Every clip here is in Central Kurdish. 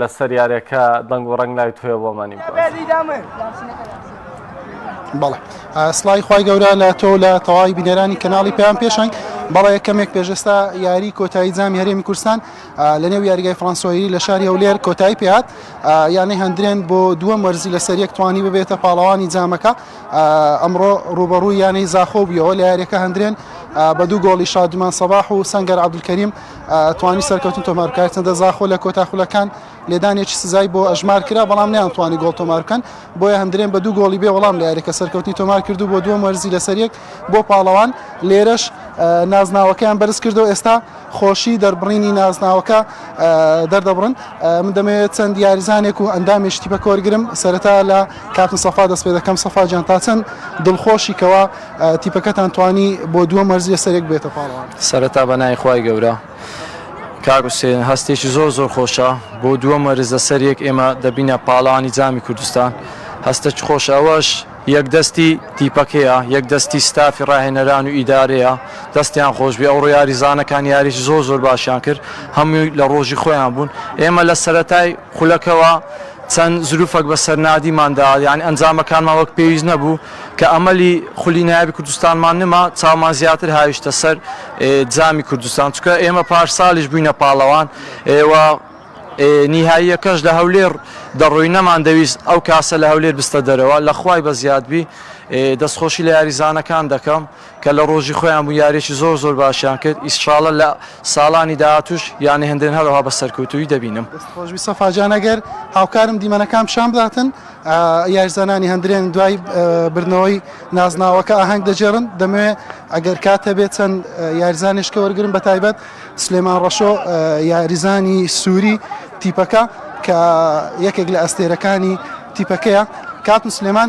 لەسەر یارەکە دەنگ و ڕەنگ ناوی تۆیە بۆ مانی بەڵێ سڵی خی گەورە لە تۆ لە تەواوی بینەرانی کەناڵی پێیان پێشنگ بەڵێ کەمێک پێشستا یاری کۆتایی جامی هەرێمی کوردستان لە نێو یاریگای فلانسۆیری لە شاری هەولێر کۆتایی پێات یانەی هەندرێن بۆ دووە مەرزی لە سەریەک توانی ببێتە پاڵەوانی جامەکە ئەمڕۆ ڕوبەڕوو یانەی زاخۆ بیەوە لە یاریەکە هەندرێن بە دوو گۆڵی شادمان سەباح و سنگەر عبدکەریم توانی سەرکەوتن تۆمار بکات چەندە زاخۆ لە کۆتا خولەکان لێدانێکی سزای بۆ ئەژمار کرا بەڵام نیان توانی گۆڵ تۆمار بکەن بۆیە هەندرێن بە دوو گۆڵی بێ وەڵام لە یاریەکە سەرکەوتنی تۆمار کردو بۆ دووەم وەرزی لەسەر یەک بۆ پاڵەوان لێرەش نازناوەکەیان بەرز کردو ئێستا خۆشی دەربڕینی نازناوەکە دەردەبڕن من دەمەوێت چەند یاریزانێک و ئەندامی شتی بە کۆرگرم سەرەتا لە کاپن سەفا دەست پێ دەکەم سەفا جان تا چەند دڵخۆشی کەەوە تیپەکەتان توانی بۆ دووەم وەرز یەسەرێک بێتە پاڵەوان. سەرەتا بە ناوی خوای گەورە. کاک حوسێن هەستێکی زۆر زۆر خۆشە بۆ دووەم وەرز لەسەر یەک ئێمە دەبینە پاڵەوانی جامی کوردستان هەستێکی خۆشە ئەوەش یەک دەستی تیپەکەیە یەک دەستی ستافی ڕاهێنەران و ئیدارەیە دەستیان خۆشبێ ئەوڕۆ یاریزانەکان یاریی زۆر زۆر باشیان کرد هەمووی لە ڕۆژی خۆیان بوون ئێمە لە سەرەتای خولەکەوە چەند زروفەک بەسەر نادیمان دا یانی ئەنجامەکانمان وەک پێویست نەبوو کە ئەمەلی خولی نایابی کوردستانمان نما چاومان زیاتر هاویشتە سەر جامی کوردستان چکە ئێمە پارسالیش بووینە پاڵەوان و نیهاییەکەش لە هەولێر دەڕۆی نەمان دەویست ئەو کاسە لە هەولێر بستە دەرەوە لە خوای بەزیادبی دەستخۆشی لە یاریزانەکان دەکەم کە لە ڕۆژی خۆیان بوو یاریەکی زۆر زۆر باشیان کرد ئیسشاڵە لە ساڵانی داهاتوش یانە هندرێن هەرەوها بە سەرکەوتوی دەبینم. دەست خۆش بی سەفا جان ئەگەر هاوکارم دیمەنەکان پیشان بداتن یاریزانانی هەندرێن دوای بردنەوەی نازناوەکە ئاهەنگ دەجێڕن دەمەوێ ئەگەر کات هەبێت چەند یاریزانێشکە وەرگرم بە تایبەت سلێمان ڕەشۆ یاریزانی سووری تیپەکە کە یەکێک لە ئەستێرەکانی تیپەکەیە کاکو سلێمان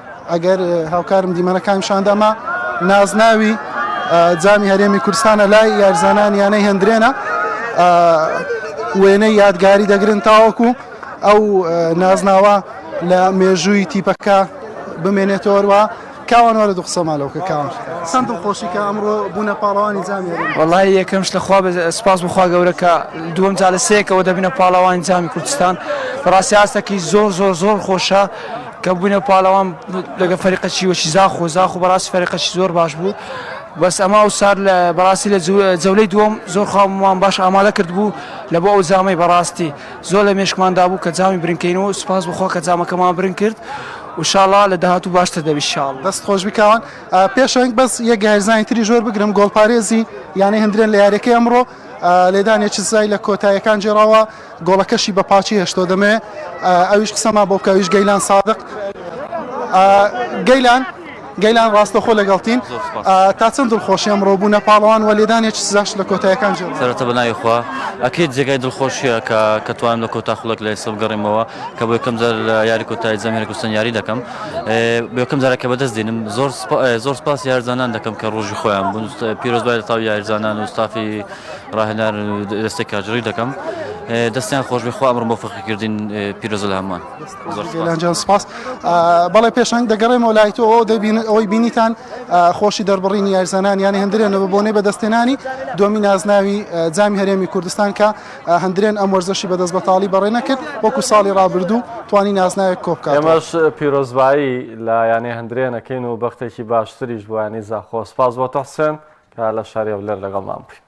ئەگەر هاوکارم دیمەنەکانی شان دا ما نازناوی جامی هەرێمی کوردستانە لای یارزانان یانەی هەندرێنە وێنەی یادگاری دەگرن تاوەکو ئەو نازناوە لە مێژووی تیپەکە بمێنێتەوەروە کاوان وەرە دوو قسە مالەوەکە کاوان چەند دڵخۆشی کە ئەمڕۆ بوونە پاڵەوانی جامی وڵی یەکەم شتە خوا سپاس بخوا گەورە کە دووەم جا لە سێکەوە دەبینە پاڵەوانی جامی کوردستان بەڕاستی ئاستەکەی زۆر زۆر زۆر خۆشە کە بوینە پاڵەوان لەگە فەریقە چیوەچی زاخۆ زاخۆ بەڕاستی فەریقەچی زۆر باش بوو بەس ئەمە ئەو سار لە بەڕاستی لە جەولەی دووەم زۆر خاومان باش ئامادە کرد بوو لە بۆ ئەو جامەی بەڕاستی زۆر لە مێشکماندا بوو کە جامی برنکەینەوە سوپاس بخۆ کە جامەکەمان برن کرد وشاڵا لە داهات و باشتر دەبی شاڵ دەست خۆش بکوان پێشەنگ بەس یە گایزانی تری زۆر بگرم گۆڵپارێزی یانەی هەندرێن لە یاریەکەی ئەمڕۆ لێدانێکی زای لە کۆتایەکان جێڕاوە گۆڵەکەشی بە پاچی هێشتەوە دەمێ ئەویش قسە ما بۆکە ئەویش گەیلان سادق گەیلان گەیلان ڕاستەخۆ لەگەڵتین تا چەند دڵخۆشی ئەمڕۆ بوو نە پاڵەوان وە لێدانێک سزاش لە کۆتایەکان جێ سەرەتا بە ناوی خوا ئەکرێت جێگای دڵخۆشیە کە کە توانم لە کۆتا خولەک لە ئێستا بگەڕێمەوە کە بۆ یەکەم جار لە یاری کۆتای جەم هێرگستن یاری دەکەم بەکەم جارە کە بەدەست دێنم زۆر زۆر سپاس یارزانان دەکەم کە ڕۆژی خۆیان بوون پیرۆزبای لە تاو یارزانان و ستافی ڕاهێنان دەستێک کاژڕی دەکەم دەستیان خۆشبێ خوا ئەمڕ مۆفقی کردین پیرۆزە لە هەمان زۆرجان سپاس بەڵێ پێشنگ دەگەڕێمەوە لای تۆ دەبین ئەوەی بینیتان خۆشی دەربڕینی یارزانان یانی هەندرێنەوە بۆنەی بەدەستێنانی دومی نازناوی جامی هەرێمی کوردستان کە هەندرێن ئەم وەرزەشی بەدەست بەتاڵی بەڕێ نەکرد وەکو ساڵی ڕابردوو توانی نازناوێک کۆبکە ئەمەش پیرۆزبایی لە یانێ هەندرێنەکەین و بەختێکی باشتریش بۆیانی زاخۆ سپاس بۆ تەحسێن کە لە شارێ لەر لەگەڵ مام بووین